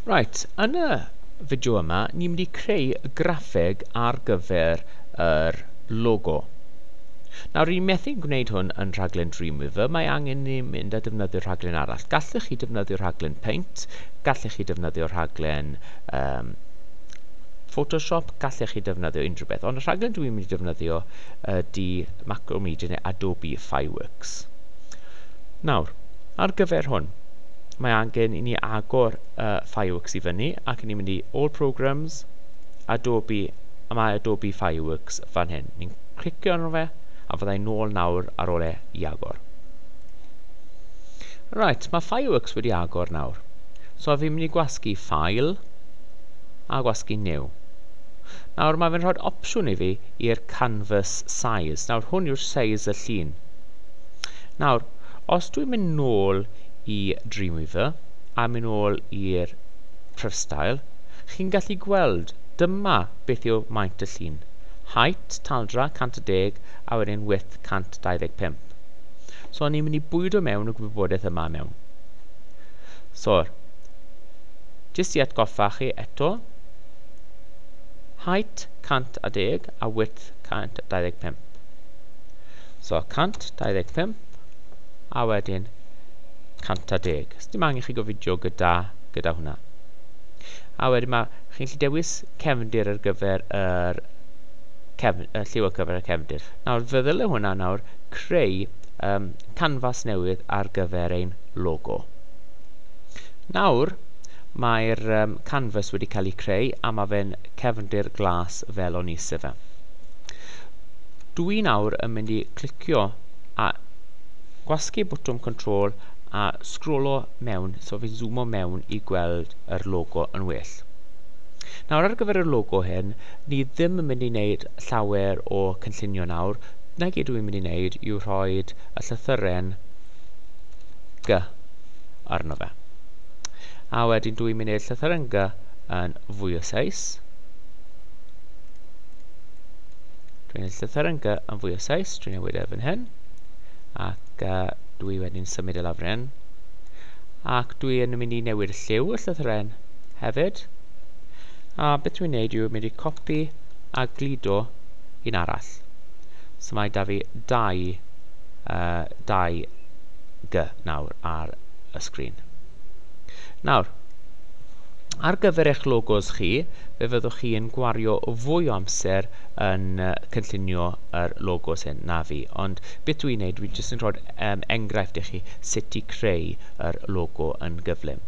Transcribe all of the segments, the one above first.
Right, yn y fideo yma, ni'n mynd i creu y graffeg ar gyfer yr logo. Nawr, ni'n methu gwneud hwn yn rhaglen Dreamweaver, mae angen ni mynd a defnyddio rhaglen arall. Gallech chi defnyddio rhaglen Paint, gallech chi defnyddio rhaglen um, Photoshop, gallech chi defnyddio unrhyw beth. Ond y rhaglen dwi'n mynd i defnyddio ydy Macromedia neu Adobe Fireworks. Nawr, ar gyfer hwn, mae angen i ni agor uh, Fireworks i fyny ac ni'n mynd i All Programs, Adobe, a mae Adobe Fireworks fan hyn. Ni'n clicio arno fe a fyddai'n nôl nawr ar ôl e i agor. Right, mae Fireworks wedi agor nawr. So fi'n mynd i gwasgu ffail a gwasgu new. Nawr mae fe'n rhoi opsiwn i fi i'r canvas size. Nawr hwn yw'r size y llun. Nawr, os dwi'n mynd nôl i Dreamweaver a mynd ôl i'r Prifstael, chi'n gallu gweld dyma beth yw maint y llun, height, taldra, 110 a wedyn width 125. So ni'n mynd i bwydo mewn y gwybodaeth yma mewn. So, jyst i atgoffa chi eto, height 110 a width 125. So 125 a wedyn 110. Os dim angen chi gofidio gyda, gyda hwnna. A wedyn mae, chi'n gallu dewis cefndir ar gyfer yr cefn, y lliw ar gyfer y cefndir. Nawr, fe ddyle hwnna nawr creu um, canfas newydd ar gyfer ein logo. Nawr, mae'r um, canvas wedi cael ei creu a mae fe'n cefndir glas fel o'n i eisiau fe. Dwi nawr yn mynd i clicio a gwasgu botwm control a sgrolo mewn so fi'n zoomo mewn i gweld yr logo yn well. Nawr ar gyfer y logo hyn, ni ddim yn mynd i wneud llawer o cynllunio nawr, na gyd dwi'n mynd i wneud yw rhoi y llythyren G arno fe. A wedyn dwi'n mynd i wneud llythyren G yn fwy o seis. Dwi'n ennill y therynga yn fwy o sais, dwi'n newid e fan hyn, ac uh, dwi wedi'n symud e lawr hyn. Ac dwi yn mynd i newid y lliw y llythyren hefyd. A beth dwi'n neud yw mynd i copi a gludo un arall. So mae da fi dau, uh, dau G nawr ar y sgrin. Nawr, Ar gyfer eich logos chi, fe fyddwch chi yn gwario fwy o amser yn uh, cynllunio yr logos hyn na fi. Ond beth dwi'n neud, dwi'n jyst yn rhoi um, enghraifft i chi sut i creu yr logo yn gyflym.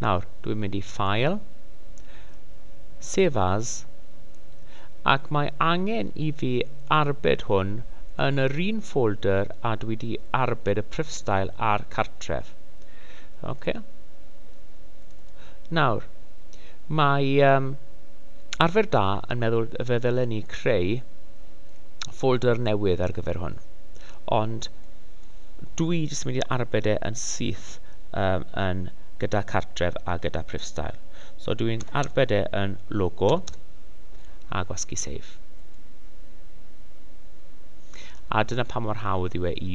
Nawr, dwi'n mynd i ffael, save as, ac mae angen i fi arbed hwn yn yr un ffolder a dwi wedi arbed y prifstael a'r cartref. Ok. Nawr, mae um, arfer da yn meddwl fe ddylen ni creu ffolder newydd ar gyfer hwn. Ond dwi i jyst mynd i arbed e yn syth um, yn gyda cartref a gyda prifstael. So dwi'n arbed e yn logo a gwasgu save. A dyna pa mor hawdd yw e i